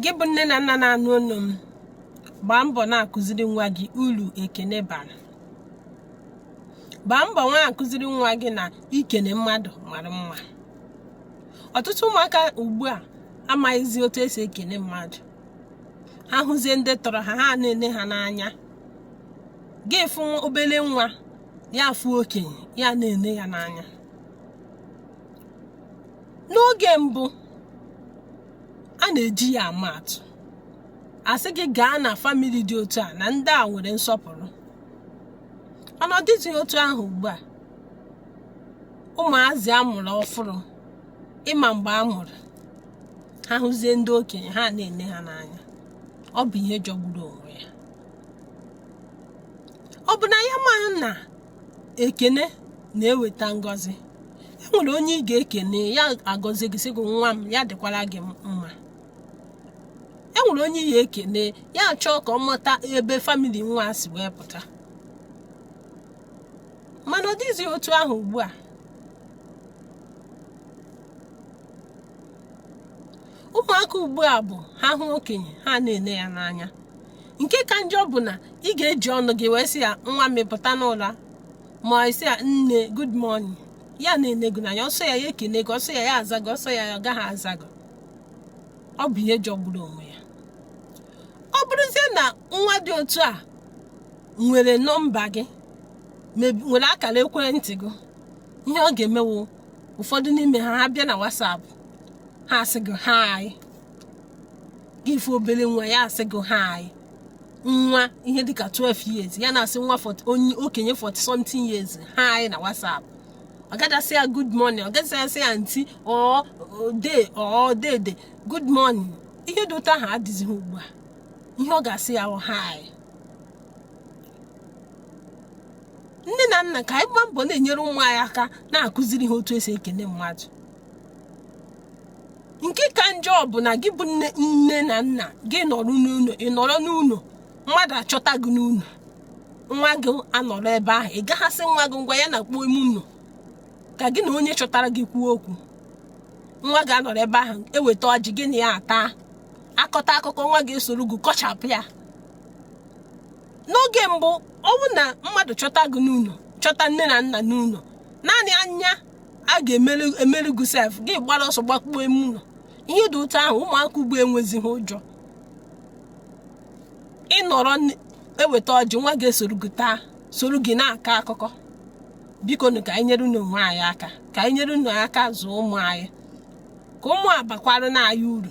gị bụ nne na nna na-anụ olu m gbaa mbọ na-akụziri nwa gị uru ekene bara gbaa mbọ na-akụziri nwa gị na ikene mmadụ mara mma ọtụtụ ụmụaka ugbu a amaghịzi otu esi ekene mmadụ ha hụzie ndị tọrọ ha ha na-ele ha n'anya gị fụ obere nwa ya afụ okenye ya na-ele ya n'anya n'oge mbụ a na-eji ya ama atụ a sị gị gaa na famili dị otu a na ndị a nwere nsọpụrụ ọ nọdịzi otu ahụ ugbu a ụmụazị a mụrụ ọfụrụ ị ma mgbe a mụrụ ha hụzie ndị okenye ha na-ene ha n'anya ọ bụ ihe jọgburu onwe ya ọ bụ na ya maghị na ekene na-eweta ngọzi e nwere onye ị ga-ekene ya agọzie gị sị gị nwa m ya dịkwara gị mma e nwere onye ị ga-ekene ya achọọ ka ọ mata ebe famili nwa si wee pụta mana ọ dịghịzi otu ahụ ugbu a ụmụaka ugbu a bụ ha hụ okenye ha na-ele ya n'anya nke ka njọ bụ na ị ga-eji ọnụ gị wee sị ya nwa m ị pụta n'ụra ma ị sị ya nne good morning ya na-ene gị n'anya ọ sọ ya ya ekene gị ọ sọ ya ya aza gị ọ sọ ya ya agaghị aza gị ọ bụ ihe jọgburu onwe ya ọ bụrụzie na nwa dị otu a nwere nọmba gị mebi- nwere akara ekwentị gị ihe ọ ga-eme wụ ụfọdụ n'ime ha ha bịa na WhatsApp ha asị gị hi gị fụ obere nwa ya asị gị hi nwa ihe dịka 12 years ya na-asị nwa onye okenye 40 something years hi na WhatsApp ọ gadị asị ya good morning ọ gadị asị ya aunty or dee or dede good morning ihe dị otu ahụ adịzighị ugbu a ihe ọ ga-asị ya wụ hi nne na nna ka anyị gbaa mbọ na-enyere ụmụ anyị aka na-akụziri ha otu esi ekene mmadụ nke ka njọ bụ na gị bụ nne nne na nna gị nọrọ n'ụlọ ị nọrọ n'ụlọ mmadụ achọta gị n'ụlọ nwa gị anọrọ ebe ahụ ị gaghị asị nwa gị ngwa ya nakpuo ime ụlọ ka gị na onye chọtara gị kwuo okwu nwa gị anọrọ ebe ahụ e weta ọjị gị na ya ataa a kọta akụkọ nwa gị esoro gị kọchapụ ya n'oge mbụ ọ bụ na mmadụ chọta gị n'ụlọ chọta nne na nna n'ụlọ naanị anya a ga-emere gị sef gị agbara ọsọ gbakpuo ime ụlọ ihe dị otu ahụ ụmụaka ugbu a enwezighị ụjọ ị nọrọ n- eweta ọjị nwa ga-esoro gị taa soro gị na-akọ akụkọ bikonụ ka anyị nyerenụ onwe anyị aka ka anyị nyerenụ aka zụọ ụmụ anyị ka ụmụ a bakwaranụ anyị uru